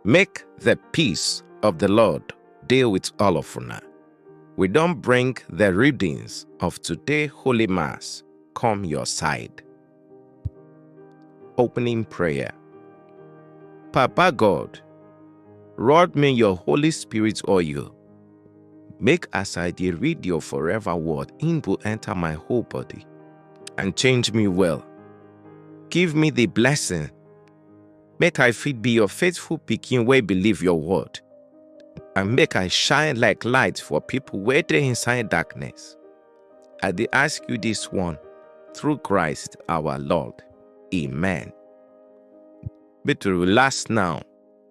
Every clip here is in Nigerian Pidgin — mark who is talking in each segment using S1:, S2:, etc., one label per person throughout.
S1: Make the peace of the Lord deal with all of una. We don bring the readings of today Holy Mass come your side. Opening prayer. Papa God, rod me your Holy Spirit oil Make as I dey read your forever word, im go enter my whole body and change me well. Give me the blessing, make I fit be your faithful pikin wey believe your word, and make I shine like light for people wey dey inside darkness. I dey ask you this one through Christ our Lord. Amen. Make we relax now.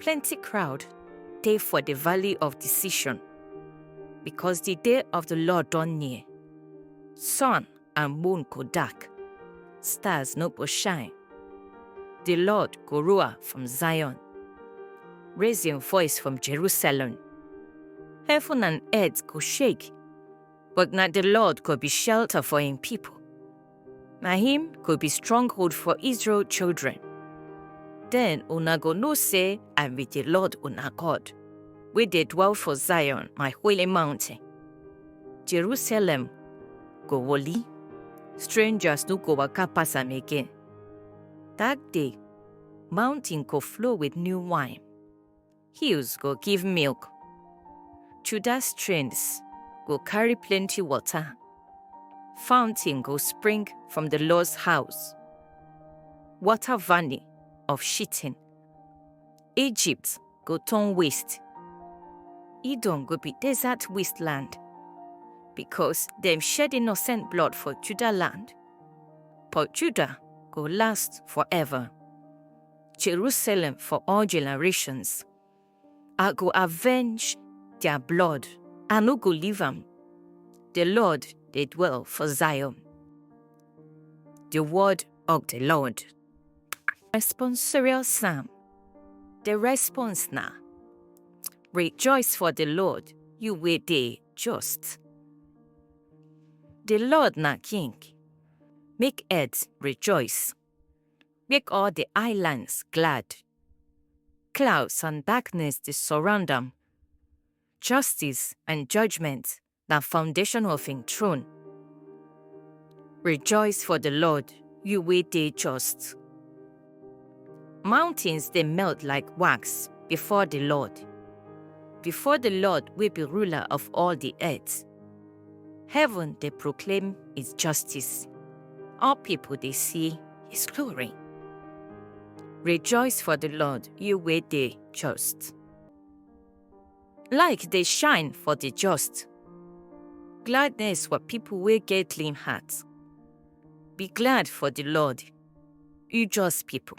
S2: Plenty crowd dey for the valley of decision, because the day of the Lord don near. Sun and moon go dark, stars no go shine. The Lord go roar from Zion, raise im voice from Jerusalem. Heaven and earth go shake, but na the Lord go be shelter for im people. Na him go be stronghold for Israel children. Then una go know say I be the Lord una God, wey dey dwell for Zion, my holy mountain. Jerusalem go holy, strangers no go waka pass am again. That day, mountain go flow with new wine, hills go give milk judah streams go carry plenty water fountain go spring from the lord's house water valley of shittim egypt go turn waste edom go be desert wasteland because dem shed innocent blood for judah land but judah go last forever Jerusalem for all generations. I go avenge their blood, I no go leave am. The Lord dey dwell for Zion. The word of the Lord. Responsorial Psalm. The response na Rejoice for the Lord, you wey dey just. The Lord na King, make earth rejoice. make all the islands glad. Clouds and darkness dey surround am. Justice and judgment na foundation of him throne. Rejoice for the Lord, you wey dey just. Mountains dey melt like wax before the Lord, before the Lord wey be ruler of all the earth. Heaven dey proclaim his justice. All people dey see his glory. Rejoice for the Lord, you wey dey just. Light dey shine for the just. Gladness for people wey get clean heart. Be glad for the Lord, you just people.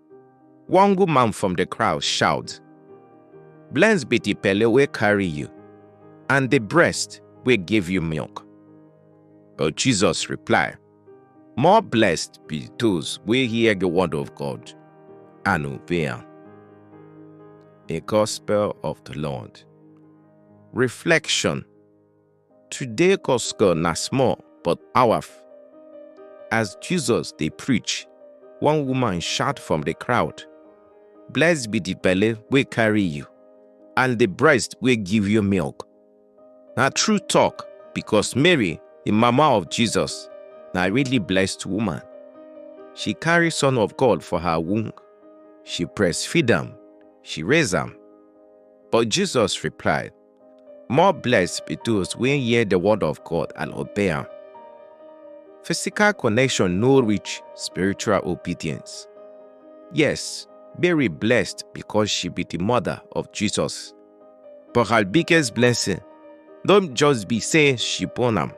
S1: One good man from the crowd shout, Blessed be the belly wey carry you, and the breast wey give you milk. But Jesus reply, More blessed be those wey hear the word of God and obey am. The Gospel of the Lord. Reflection Today Costco na small but powerf. As Jesus dey preach, one woman shout from the crowd, Blessed be the belle wey carry you, and the breast wey give you milk. Na true talk because Mary, the mama of Jesus, na really blessed woman. She carry Son of God for her womb. She breastfeed am, she raise am. But Jesus replied, More blessed be those wey hear the word of God and obey am. Physical connection no reach spiritual obedience. Yes, Mary blessed because she be the mother of Jesus. But her biggest blessing don't just be say she born am,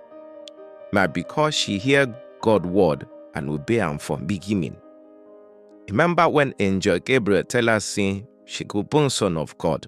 S1: na because she hear God word and obey am from beginning. Remember when angel Gabriel tell her say she go born son of God?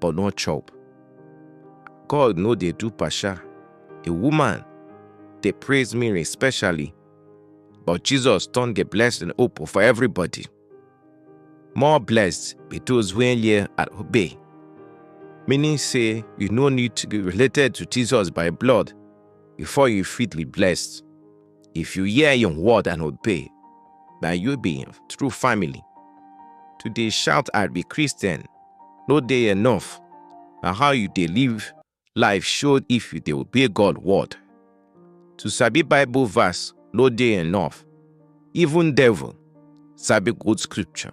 S1: but no chop. God no dey do pasha. A woman dey praise Mary especially, but Jesus turn the blessing open for everybody. More blessed be those wey hear and obey. Meaning say you no need to be related to Jesus by blood before you fit be blessed. If you hear im word and obey, na you be im true family. To dey shout I be Christian no dey enough. Na how you dey live life show if you dey obey God word. To sabi Bible verse no dey enough. Even devil sabi good scripture.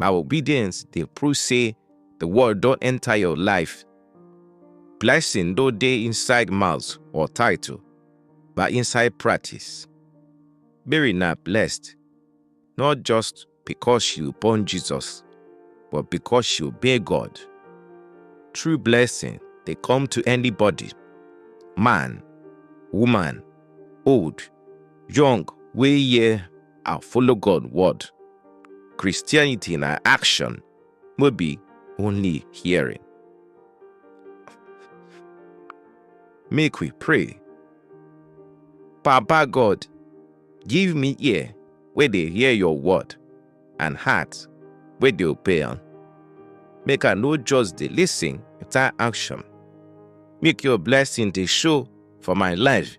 S1: Na obedience dey prove say the word don enter your life. Blessing no dey inside mouth or title. but inside practice. Mary na blessed, not just because she born Jesus, but because she obey God. True blessing dey come to anybody, man, woman, old, young, wey hear and follow God word. Christianity na action, would be only hearing. Make we pray. Papa God, give me ear where they hear your word and heart where they obey on. Make I no just the listen without action. Make your blessing they show for my life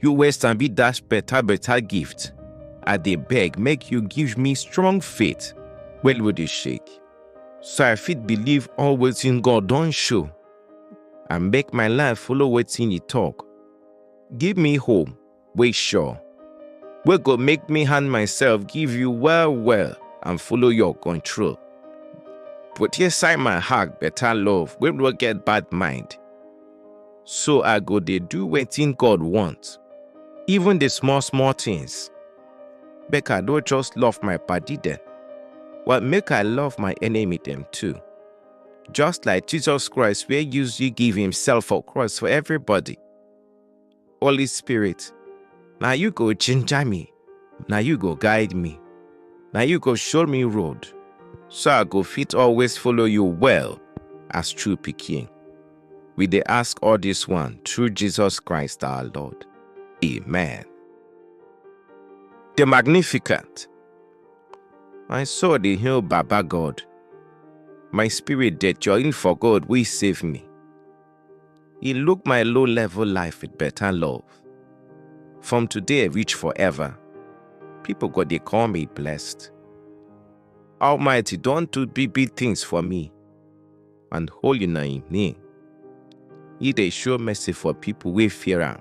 S1: You wey sabi dash better better gift, I dey beg make you give me strong faith wey no dey shake, so I fit believe all wetin God don show and make my life follow wetin e talk. Give me hope wey sure, wey go make me hand myself give you well well and follow your control. Put inside my heart better love wey no get bad mind. So I go dey do wetin God want, even the small small things. Make I no just love my padi dem, but make I love my enemy dem too. Just like Jesus Christ wey use you give himself for cross for everybody. Holy Spirit, now you go ginger me, now you go guide me, now you go show me road, so I go fit always follow you well as true picking. We they ask all this one through Jesus Christ our Lord. Amen. The Magnificent. I saw the hill Baba God. My spirit that join for God will save me. He look my low level life with better love. From today reach forever, people go dey call me blessed. Almighty don do big big things for me, and holy na him name. He dey show mercy for people wey fear am,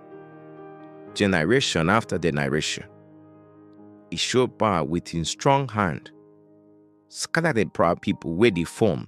S1: generation after generation. He show power with him strong hand, scatter the proud people wey dey form.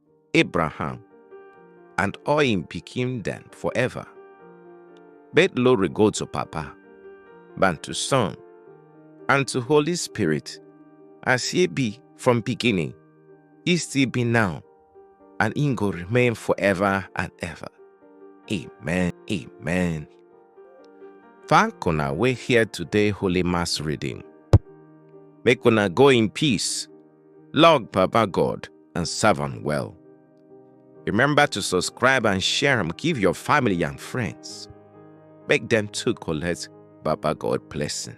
S1: Abraham, and all him pikin dem forever. Bet glory go to Papa, and to Son, and to Holy Spirit, as ye be from beginning, ye still be now, and in go remain forever and ever. Amen. Amen. Thank una we hear today Holy Mass reading. Make una go in peace Log Papa God and serve am well. Remember to subscribe and share am give your family and friends. Make dem too collect Baba God blessing.